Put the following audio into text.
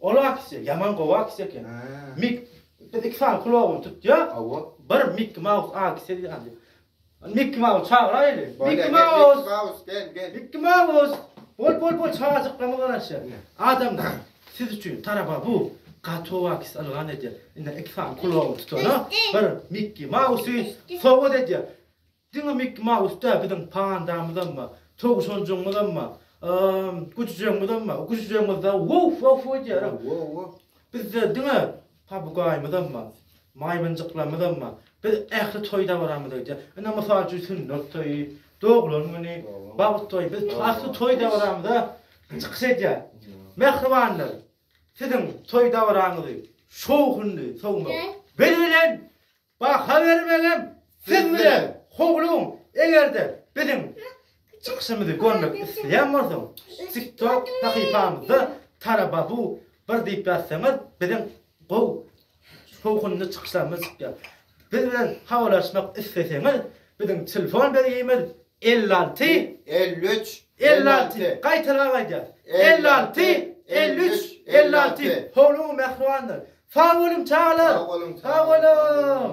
Ol aksiýa ýaman gowy aksiýa eken. Mik biz iki sany kulagyny tutýa. Hawa. Bir Mik Maus aksiýa diýýär. Mik Maus çagyraýly. Mik Maus. Mik Maus gel gel. Mik Maus. Bol bol bol çajyklama garaşýar. Adam siz üçin taraba bu gato aksiýa ylgan edýär. Indi iki sany kulagyny tutana bir Mik Mausy sowgat edýär. Diňe Miki Maus däl, biziň pandamyzam bar, towşanjygymyzam bar, güjüjegiňizem bar, güjüjegiňizde wow wow wow diýýär. Bizde diňe pabugaýymyzam bar, maýmynjyklarymyzam bar. Biz ähli toý dabaramyzda gidýär. Ine, mysal üçin, sünnet toýy, doglan güni, bagt toýy, biz ähli toý dabaramyzda çykyş edýär. Mähribanlar, siziň toý dabaraňyzy şowhunly sowmak beli bilen Baha bermegem siz bilen howlum egerde biziň çykyşymyzy görmek isleýän bolsaň tiktok sahypamyzda tarababu bir diýip ýazsaňyz biziň gowy şowhunly çykyşlarymyz çykýar biz bilen habarlaşmak isleseňiz biziň telefon belgimiz elli alty elli üç Elli alty, gaýtalap aýdýas. Elli alty, elli üç, elli alty. Howluň mähribandyr. Sag boluň çagalar. Sag boluň.